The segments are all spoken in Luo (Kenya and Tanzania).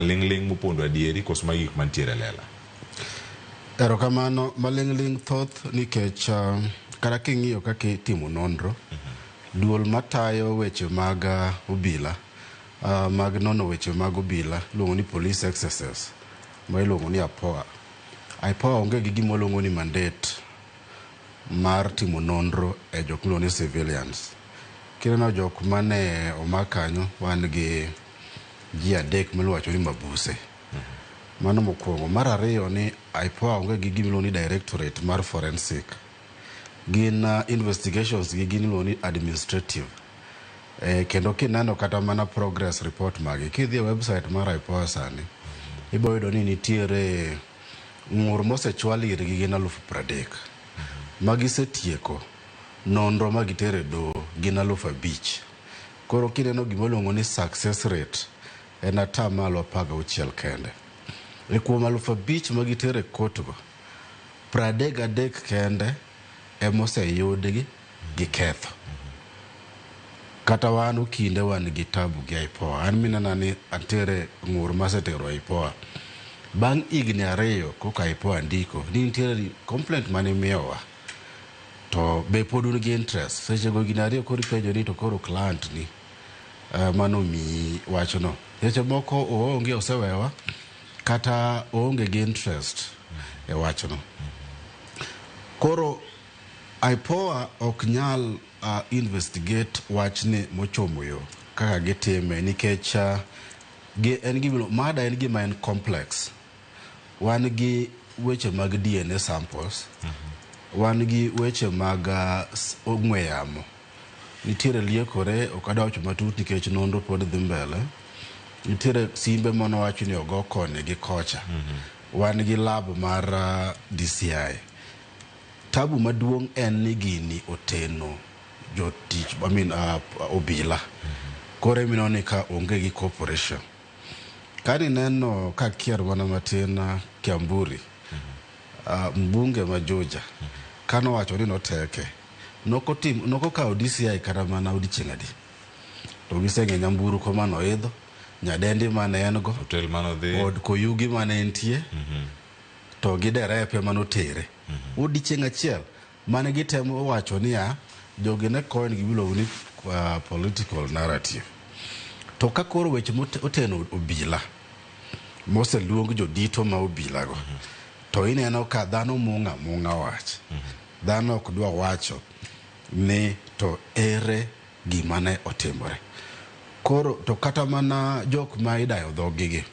Ling ling mupondo adieri koso magi gik mantiere lela. Erokamano maling'ling' thoth nikech uh, kata king'iyo kaka itimo nonro duol matayo weche mag uh, obila uh, mag nono weche mag obila iluongo ni police excesses ma iluongo ni apoa apoa onge gi gima luongo ni mandate mar timo nonro e jok miluongo ni civilians kineno jok mane omak kanyo wan gi ji adek miluongo wacho ni mabuse. Mano mokwongo. Mar ariyo ni IPOA onge gi gimiluongo ni directorate mar forensic. Gin uh, investigations gi gin iluongo ni administrative. Eh, kendo kineno kata mana progress report magi kidhi e website mar IPOA sani ibiro yudo ni nitiere ng'ur mosechwal irgi gin alufu pradek ma gisetieko nonro ma gitere doho gin alufu abich Koro kineno gima oluongo ni success rate en ata malo apar gauchiel kende. E kuom alufu abich ma gitero e kotgo, pradek gadek kende ema oseyudgi gi ketho. Kata wan Okinde wan gi tabu gi IPOA. An minena ni antiere ng'ur masetero e IPOA. Bang' higni ariyo koka IPOA ndiko ni nitiere complaint mane imiyowa. To be pod un gi interest? Seche go gina ariyo koro ipenjo ni to koro client ni uh, mano miyi wachno. Seche moko oonge osewewa kata oonge gi interest e wachno. Koro IPOA ok nyal uh, investigate wachni mochomo yo kaka gitime nikech uh, gi, en gima, mada en gima en complex wan gi weche mag DNA samples, wan gi weche mag ah, s- ong'we yamo. Nitiere liekore, ok adwa wacho matut nikech nonro pod dhi mbele. Nitiere simbe mano wacho ni ogo koni gi kocha. Wan gi lab mar ah, DCI. Tabu maduong' en ni gini oteno jotich, I mean, ah, obila. Koro emineno ni ka onge gi cooperation. Kani neno ka kier mana matin Kiamburi, ah, mbunge ma Juja, kano wacho ni noteke, nokotim, nokokawo DCI kata mana odiochieng' adi. To giseng'e nyamburu ko mano idho, nyadendi mane en go, Hotel mano dhi. od koyugi mane entie, to gi derepe manotere. Odiochieng' achiel. Mane gitemo wacho niya, jogi ne coin gima iluongo ni uh, political narrative. To ka koro weche moteno obila moseluong jodito ma obilago mhm. to ineno ka dhano mung'a mung'a wach. Mhm. Dhano ok dwa wacho ni to ere gima ne otimore. Koro to kata mana jok ma idayo dhogigi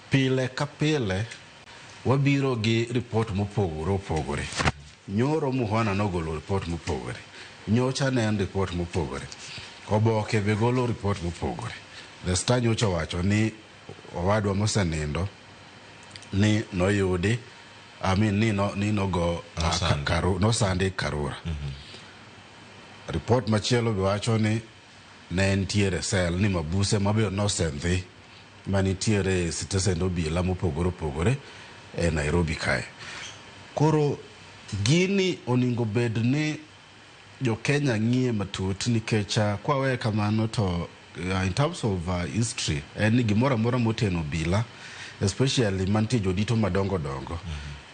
pile ka pile Wabiro gi report mopogore opogore. Nyoro Muhwana nogolo report mopogore. Nyocha ne en report mopogore. Oboke be golo report mopogore. The Star nyocha owacho ni owadwa mosenindo ni noyudi I mean, ni no, ni nogo ah, Nosande. Karu- nosande Karura. Report machielo be wacho ni Ne nitiere cell ni mabuse mabe nosendhi manitiere e sitesend obila mopogore opogore e Nairobi kae. Koro gini oningo bed ni jo Kenya ng'iye matut nikech uh, kwaweye kamano to uh, in terms of uh, history en ni gimoro amora moteno obila especially mantie jodito madongo dongo mm -hmm.